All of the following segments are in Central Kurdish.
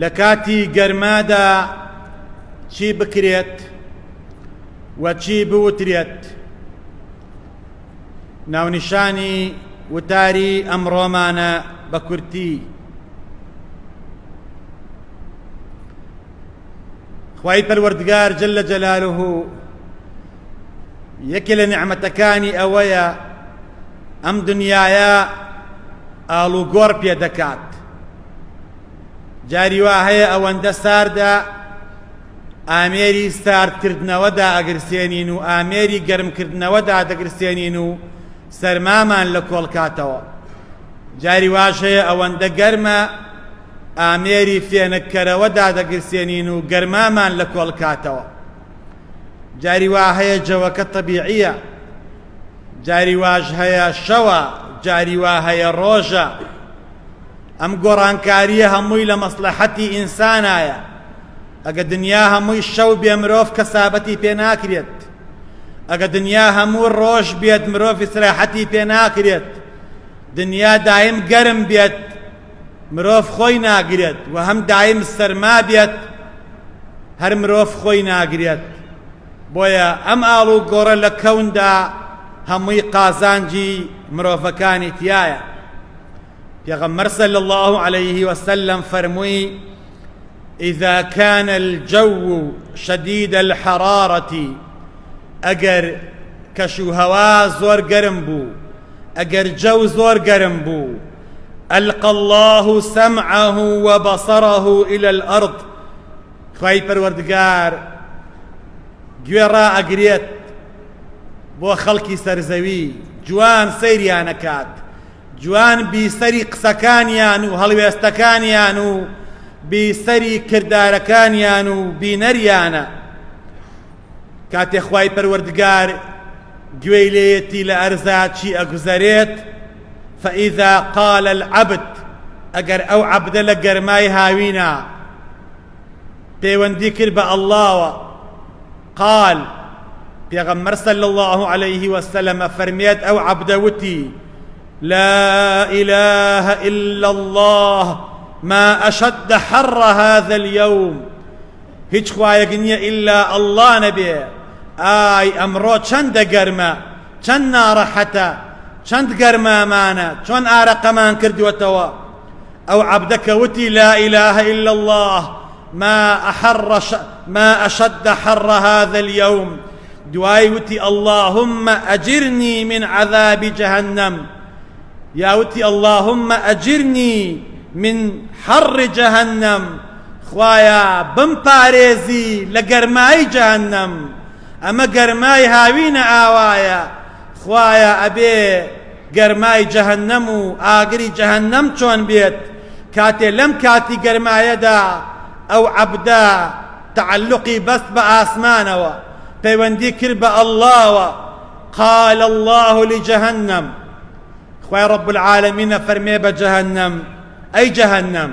لە کاتی گەرمادا چی بکرێت و چی بوترێت؟ ناونیشانی وتاری ئەمڕۆمانە بە کورتی خوای پەروەردگار جل لە جەلالوه یەکێ لە نعمەتەکانی ئەوەیە ئەم دنیاە ئاڵوگۆڕ پێ دەکات جاری وا هەیە ئەوەندە ساردە ئامێری ساردکردنەوە دائەگرسێنین و ئامێری گەرمکردنەوە دادەگرسێنین و سەرمامان لە کۆڵکاتەوە جاری واش هەیە ئەوەندە گەرمە ئامێری فێنککەرەوە دادەگرسێنین و گەرمامان لە کۆڵکاتەوە جاری وا هەیە جەوەکە طبیعیە جاری واش هەیە شەوە جاری وا هەیە ڕۆژە ئەم گۆڕانکاریە هەمووی لە مەسڵەحەتی ئینسانایە ئەگە دنیا هەمووی شەو بێ مرۆڤ کەسابەتی پێ ناکرێت ئەگە دنیا هەموو ڕۆژ بێت مرۆڤ سراحەتی پێ ناکرێت دنیا دایم گەرم بێت مرۆڤ خۆی ناگرێت و هەم دایم سەرما بێت هەر مرۆڤ خۆی ناگرێت بۆیە ئەم ئاڵ و گۆڕە لە کەوندا هەمووی قازانجی مرۆڤەکانی تایە پێغەمبەر صلی الله علیه و سلم فەرمووی اذا كان الجو شديد الحرارة ئەگەر کەش و هەوا زۆر گەرم بوو ئەگەر جەو زۆر گەرم بوو ئەلقە الله سمعه وبصره إلى الأرض خوای پەروەردگار گوێڕا ئەگرێت بۆ خەڵکی سەرزەوی جوان سەیریانەکات جوان بیسەری قسەکانیان و هەڵوێستەکانیان و بیسەری کردارەکانیان و بینەریانە کاتێ خوای پەروەردگار گوێی لێیەتی لە ئەرزا چی ئەگوزەرێت فإذا قال العبد ئەگەر ئەو عەبدە لە گەرمای هاوینا پەیوەندی کرد بە اللەوە قال پێغەمبەر صلی الله علیه و سلم فەرمێت ئەو عەبدە وتی لا إله إلا الله ما أشد حر هذا اليوم هیچ خوایەک نییە ئللا ئەللا نەبێ ئای ئەمڕۆ چەندە گەرمە چەند ناڕەحەتە چەند گەرمامانە چۆن ئارەقەمان کردووەتەوە ئەو عەبدە کە وتی لا ئیلە ئیلا اللە ما احر ما اشد حر هذا اليوم دوای وتی اللهم اجرنی من عذاب جهنم یا وتی اللهم اجرنی من حر جهنم خوایا بم پارێزی لە گەرمایی جهنم ئەمە گەرمای هاوینە ئاوایە خوایە ئەبێ گەرمای جەهەنەم و ئاگری جەهەنەم چۆن بێت کاتێ لەم کاتی گەرمایەدا ئەو عەبدە تعلقی بەست بە ئاسمانەوە پەیوەندی کرد بە ئەڵڵاوە قال الله لجهنم خوای رب العالمین فەرمێ بە جەهەنەم ئەی جەهەنەم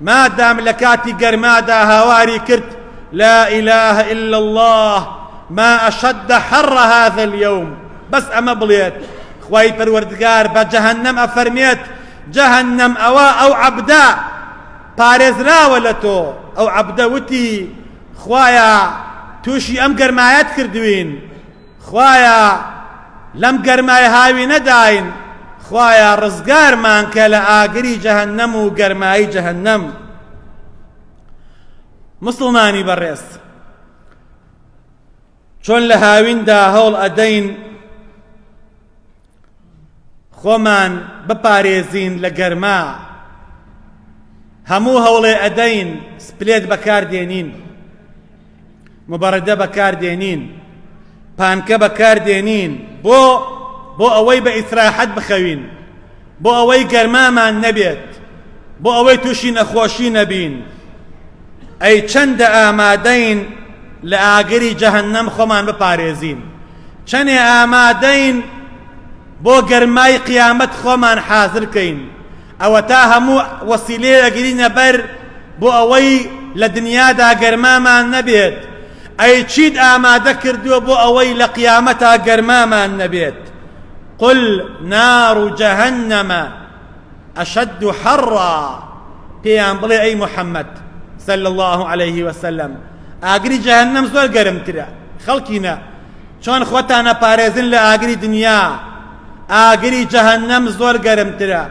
مادام لە کاتی گەرمادا هاواری کرد لا اله الا الله ما اشد حر هذا اليوم بەس ئەمە بڵێت خوای پەروەردگار بە جەهەنەم ئەفەرمێت جەهەنەم ئەوە ئەو عەبدە پارێزراوە لە تۆ ئەو عەبدە وتی خوایە تووشی ئەم گەرمایەت کردوین خوایە لەم گەرمای هاوینەداین خوایە ڕزگارمانکە لە ئاگری جەهەنەم و گەرمایی جەهەنەم مسڵمانی بەڕێز چۆن لە هاویندا هەوڵ ئەدەین خۆمان بپارێزین لە گەرما هەموو هەوڵێ ئەدەین سپلێت بەکاردێنین مبەڕدە بەکاردێنین پانکە بەکاردێنین بۆ بۆ ئەوەی بە ئیسراحەت بخەوین بۆ ئەوەی گەرمامان نەبێت بۆ ئەوەی تووشی نەخۆشی نەبین ئەی چەندە ئامادەین لە ئاگری جەهنم خۆمان بپارێزین چەنێ ئامادەین بۆ گەرمای قیامەت خۆمان حازر کەین ئەوەتا هەموو وەسیلەیە ئەگرینە بەر بۆ ئەوەی لە دنیادا گەرمامان نەبێت ئەی چیت ئامادە کردووە بۆ ئەوەی لە قیامەتا گەرمامان نەبێت قل نار جهنم اشد حرا پێیان بڵێ ئەی محەممەد صلی الله عليه وسلم ئاگری جەهنم زۆر گەرمترە خەڵکینە چۆن خۆتانە پارێزن لە ئاگری دنیا ئاگری جەهنم زۆر گەرمترە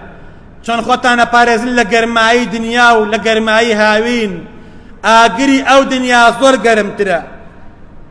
چۆن خۆتانە پارێزن لە گەرمایی دنیا و لە گەرمایی هاوین ئاگری ئەو دنیا زۆر گەرمترە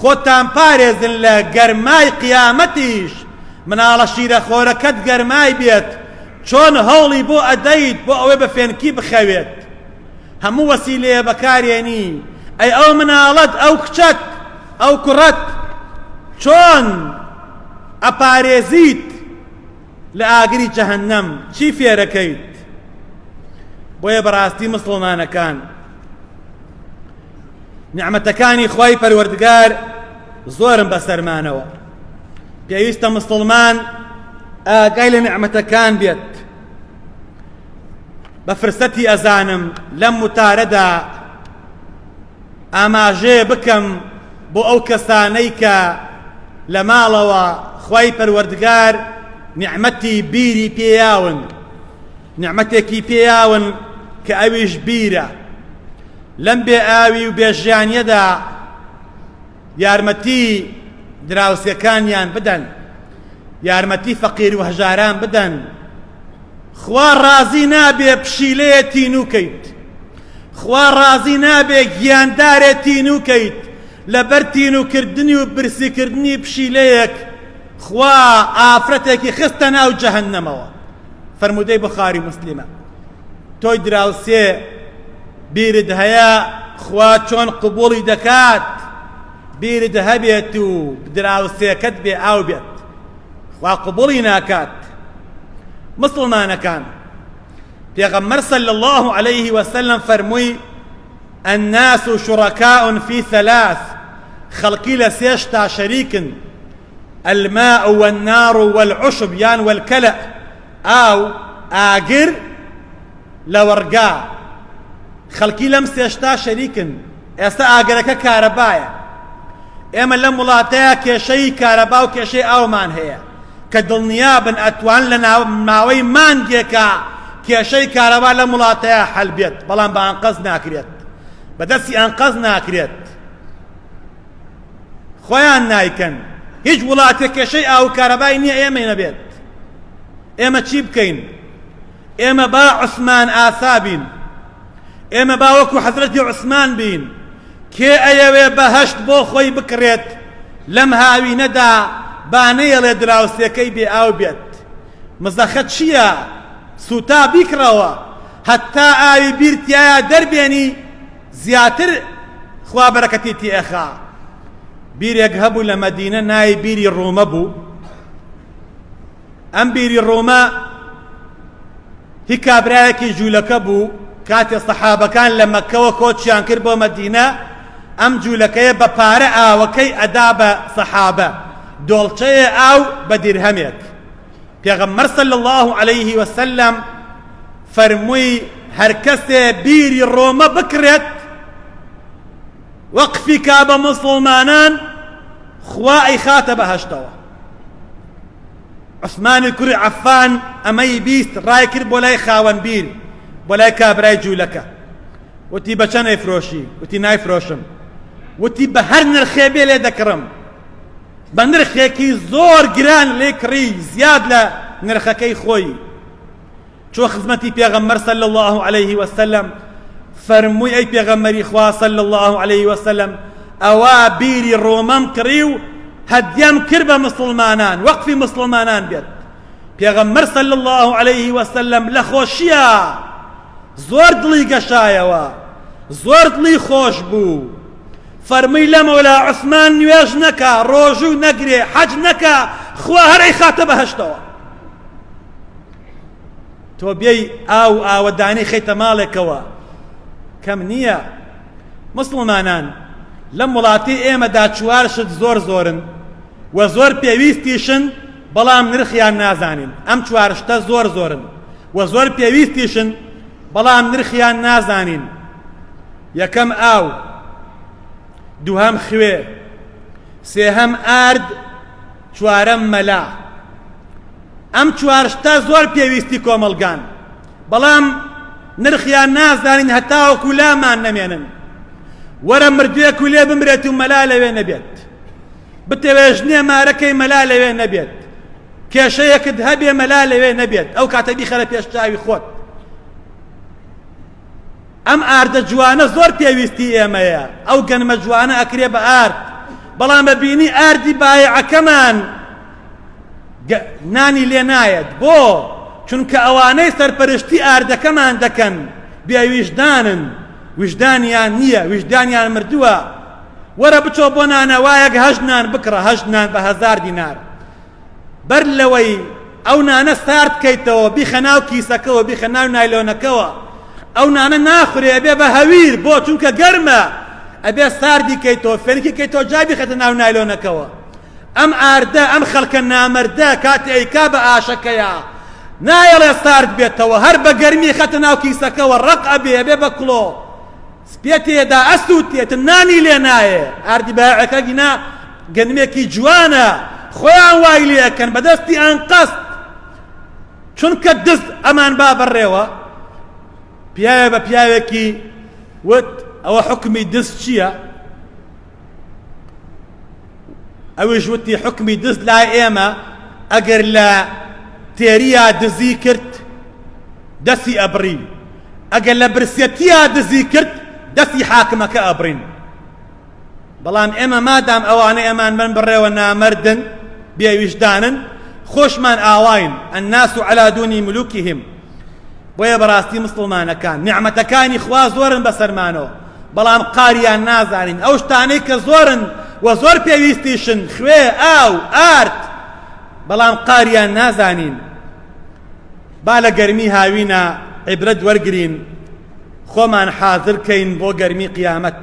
خۆتان پارێزن لە گەرمای قیامەتیش مناڵە شیرە خۆرەکەت گەرمای بێت چۆن هەوڵی بۆ ئەدەیت بۆ ئەوەی بە فێنکی بخەوێت هەموو وەسیلەیە بەکارێنی ئەی ئەو مناڵەت ئەو کچەت ئەو کوڕەت چۆن ئەپارێزیت لە ئاگری جەهەنەم چی فێرەکەیت بۆیە بەڕاستی مسڵمانەکان نیعمەتەکانی خوای پەروەردگار زۆرن بەسەرمانەوە پێویستە مسلمان ئاگای لە نیعمەتەکان بێت بە فرسەتی ئەزانم لەم وتارەدا ئاماژێ بکەم بۆ ئەو کەسانەی کە لە ماڵەوە خوای پەروەردگار نیعمەتی بیری پێیاون نیعمەتێکی پێیاون کە ئەویش بیرە. لەم بێ ئاوی و بێ ژیانیەدا یارمەتی دراوسێکانیان بدەن، یارمەتی فەقیر و هەژاران بدەن. خوا ڕازی نابێ پشیلەیە تینوو کەیت. خوا ڕازی نابێ گیاندارێ تینوو کەیت. لەبەر تینوو کردنی و برسی کردنی پشیلەیەک خوا ئافرەتێکی خستە ناو جەهەنەمەوە. فەرموودەی بوخاری موسلیمە تۆی دراوسێ بیرت هەیە خوا چۆن قبوڵی دەکات بیرت هەبێت و دراوسێکەت بێ ئاو بێت خوا قبوڵی ناکات مسلمانەکان پێغەمبەر صلی الله عليه وسلم فەرمووی الناس شركاء في ثلاث خەڵکی لە سێشتا شەریکن الماء والنار والعشب یان والکلء ئاو، ئاگر، لەوەڕگا، خەڵکی لەم سێ شتە شەریکن، ئێستا ئاگرەکە کارەبایە، ئێمە لەم وڵاتەیا کێشەی کارەبا و کێشەی ئاومان هەیە، کە دڵنیابن ئەتوان لە ماوەی مانگێکا کێشەی کارەبا لەم وڵاتەیا حەل بێت، بەڵام بە ئەنقەست ناکرێت، بەدەستی ئەنقەست ناکرێت. خۆیان نایکەن هیچ وڵاتێک کێشەی ئاو کارەبای نییە ئێمەی نەبێت ئێمە چی بکەین ئێمە با عوسمان ئاسا بین ئێمە با وەکو حەزرەتی عوسمان بین کێ ئەیەوێ بەهشت بۆ خۆی بکرێت لەم هاوینەدا با نەیەڵێ دراوسێکەی بێ ئاو بێت مزەخە چییە سوتا بیکڕەوە هەتا ئاوی بیرتایە دەربێنی زیاتر خوا بەرەکەتی تێ ئەخا بیرێک هەبوو لە مەدینە ناوی بیری ڕۆمە بوو ئەم بیری ڕۆمە هی کابرایەکی جوولەکە بوو کاتێ سەحابەکان لە مەکەوە کۆچیان کرد بۆ مەدینە ئەم جوولەکەیە بە پارە ئاوەکەی ئەدا بە سەحابە دۆڵچەیە ئاو بە دیرهەمێک پێغەمبەر صلی الله عليه وسلم فەرمووی هەرکەسێ بیری ڕۆمە بکڕێت وەقفی کا بە موسڵمانان خوا ئەیخاتە بەهەشتەوە عثمانی کوری عەفان ئەمەی بیست ڕای کرد بۆ لای خاوەن بیر بۆ لای کابرای جوولەکە وتی بە چەند ئەیفرۆشی وتی نایفرۆشم وتی بە هەر نرخێ بێ لێ دەکڕم بە نرخێکی زۆر گران لێ کڕی زیاد لە نرخەکەی خۆی چۆ خزمەتی پێغەمبەر صلی الله علیه و سلم فەرمووی ئەی پێغەمبەری خوا صلی الله علیه و سلم ئەوە بیری ڕۆمەم کڕی و هەدیەم کرد بە مسلمانان وەقفی مسلمانان بێت پێغەمبەر صلی الله علیه و سلم لە خۆشیە زۆر دڵی گەشایەوە زۆر دڵی خۆش بوو فەرمووی لە مەولا عوسمان نوێژ نەکا ڕۆژوو نەگرێ حەج نەکا خوا هەر ئەیخاتە بەهەشتەوە تۆ بێی ئاو ئاوەدانی خەیتە ماڵێکەوە کەم نییە مسلمانان لەم وڵاتی ئێمەدا چوار شت زۆر زۆرن و زۆر پێویستیشن بەڵام نرخیان نازانین ئەم چوار شتە زۆر زۆرن و زۆر پێویستیشن بەڵام نرخیان نازانین یەکەم ئاو، دووهەم خوێ، سێهەم ئارد، چوارەم مەلا. ئەم چوار شتە زۆر پێویستی کۆمەڵگان، بەڵام نرخیان نازانین هەتاوەکو لامان نەمێنن. وەرە مردوێک و لێ بمرێت و مەلا لەوێ نەبێت. بتەوێ ژنێ مارەکەی مەلا لەوێ نەبێت. کێشەیەکت هەبێ مەلا لەوێ نەبێت، ئەو کاتە بیخەرە پێش چاوی خۆت. ئەم ئاردە جوانە زۆر پێویستی ئێمەیە، ئەو گەنمە جوانە ئەکرێ بە ئارد، بەڵام بە بینی ئاردی بایەعەکەمان نانی لێ نایەت، بۆ؟ چونکە ئەوانەی سەرپەرشتی ئاردەکەمان دەکەن بێ ویژدانن، ویژدانیان نییە، ویژدانیان مردووە، وەرە بچۆ بۆ نانەوایەک هەشت نان بکڕە، هەشت نان بە هەزار دینار. بەر لەوەی ئەو نانە سارد بکەیتەوە بیخە ناو کیسەکەوە بیخە ناو نایلۆنەکەوە ئەو نانە ناخورێ ئەبێ بە هەویر بۆ چونکە گەرمە ئەبێ ساردی کەیتەوە فێنکی کەیتەوە جا بیخەتە ناو نایلۆنەکەوە ئەم ئاردە ئەم خەڵکە نامەردە کاتی ئەیکا بە ئاشەکەیە نایەڵێ سارد بێتەوە هەر بە گەرمی خەتە ناو کیسەکەوە ڕەق ئەبێ ئەبێ بە کڵۆ سپێ تێ دا ئەسووتێ تن نانی لێ نایێ ئاردی بایەعەکە گینا گەنمێکی جوانە خۆیان وای لێ ئەکەن بە دەستی ئانقەست چونکە دز ئەمان با بەڕێوە پیاوێ بە پیاوێکی وت ئەوە حکمی دز چییە ئەویش وتی حکمی دز لای ئێمە ئەگەر لە تێریا دزی کرد دەسی ئەبرین ئەگەر لە برسەتیا دزی کرد دەسی حاکمەکە ئەبرین بەڵام ئێمە مادام ئەوانە ئەمان من بڕێوە نامردن بێویژدانن خۆشمان ئاواین ئەناس و عەلادونی ملوکیهم بۆیە بەڕاستی مسلمانەکان نیعمەتەکانی خوا زۆرن بەسەرمانەوە بەڵام قاریان نازانین ئەو شتانەی کە زۆرن و زۆر پێویستیشن خوێ ئاو ئارد بەڵام قاریان نازانین با لە گەرمی هاوینە عیبرەت وەرگین خۆمان حازرکەین بۆ گەرمی قیامەت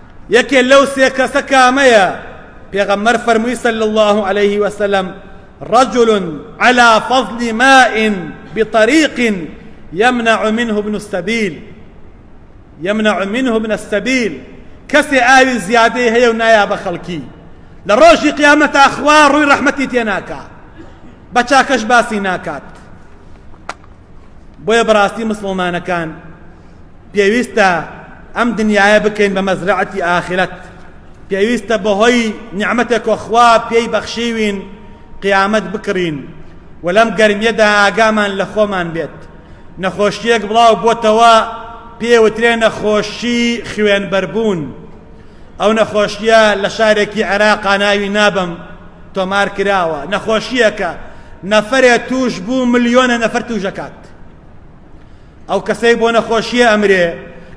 یەکێ لەو سێ کەسە کامەیە؟ پێغەمبەر فەرمووی صلی الله علیه وسلم رجل على فضل ماء بطريق يمنع منه ابن السبيل يمنع منه ابن السبيل کەسێ ئاوی زیادەی هەیە و نایا بە خەڵکی لە ڕۆژی قیامەتا خوا ڕووی ڕەحمەتی تێ ناکا بە چاکەش باسی ناکات بۆیە بەڕاستی مسلمانەکان پێویستە ئەم دنیایە بکەین بە مەزرعەتی ئاخرەت پێویستە بەهۆی نیعممەتێک کۆ خوا پێی بەخشیوین قیامەت بکڕین و لەم گەرمیەدا ئاگامان لە خۆمان بێت نەخۆشیەک بڵاو بۆتەوە پێوترێ نەخۆشی خوێنبەربوون ئەو نەخۆشیە لە شارێکی عێراقا ناوی نابم تۆمار کراوە نەخۆشیەکە نەفرێ توش بوو ملیۆنە نەفر توشەکات ئەو کەسەی بۆ نەخۆشیە ئەمرێ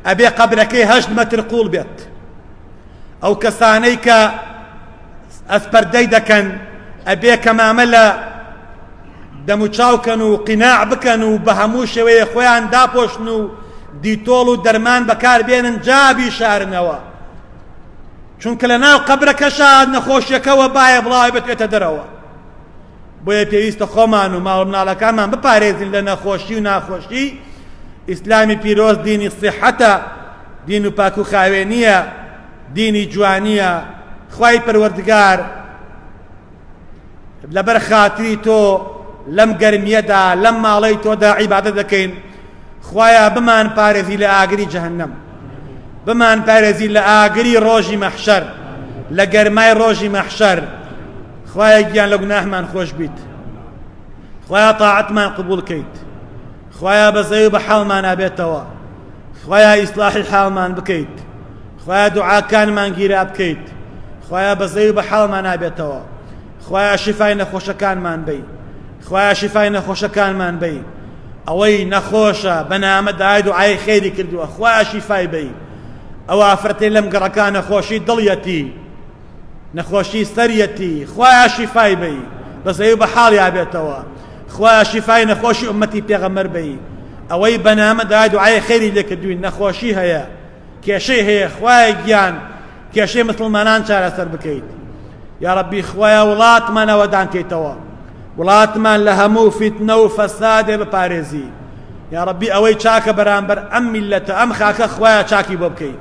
ئەبێ قەبرەکەی هەشت مەتر قوڵ بێت ئەو کەسانەی کە ئەسپەردەی دەکەن ئەبێ کەمامە لە دەموچاوکەن و قیناع بکەن و بە هەموو شێوەیە خۆیان داپۆشن و دیتۆڵ و دەرمان بەکار بێنن جابی شارنەوە چونکە لە ناو قەبرەکەشا نەخۆشیەکەەوە باە بڵاوێتێتە دەرەوە بۆیە پێویستە خۆمان و ماڵ و مناڵەکانمان بپارێزین لە نەخۆشی و ناخۆشی، ئیسلامی پیرۆز دینی سیحەتە، دین و پاک و خاوێنییە، دینی جوانییە، خوای پەروەردگار لەبەر خاتری تۆ لەم گەرمییەدا لەم ماڵەی تۆدا عیبادەت دەکەین، خوایە بمان پارێزی لە ئاگری جەهەنەم، بمان پارێزی لە ئاگری ڕۆژی مەحشەر، لە گەرمای ڕۆژی مەحشەر. خوایە گیان لە گوناهمان خۆش بیت خوایە تاعەتمان قبول کەیت خوایە بەزەی و بە حاڵمانا بێتەوە خوایە ئیسلاحی حاڵمان بکەیت خوایە دوعاکانمان گیرا بکەیت خوایە بەزەی و بە حاڵمان نابێتەوە خوایە شیفای نەخۆشەکانمان بی خوایە شیفای نەخۆشەکانمان بی ئەوەی نەخۆشە بەنامە دای دوعای خێری کردووە خوایە شیفای بی ئەو ئافرەتەی لەم گەڕەکانە خۆشی دڵیەتی نەخۆشی سەریەتی خوایە شیفای بەی بەزەیو بەحاڵیا بێتەوە خوایە شیفای نەخۆشی ئومەتی پێغەمەر بەی ئەوەی بەنامە دا دوعای خێری لێکردوین نەخۆشی هەیە کێشەی هەیە خوایە گیان کێشەی مسلمانان چارەسەر بکەیت یا ربی خوایە وڵاتمان ئەوەدان کەیتەوە وڵاتمان لە هەموو فیتنە و فەسادێ بپارێزی یا ربی ئەوەی چاکە بەرامبەر ئەم میلەتە ئەم خاکە خوایە چاکی بۆ بکەیت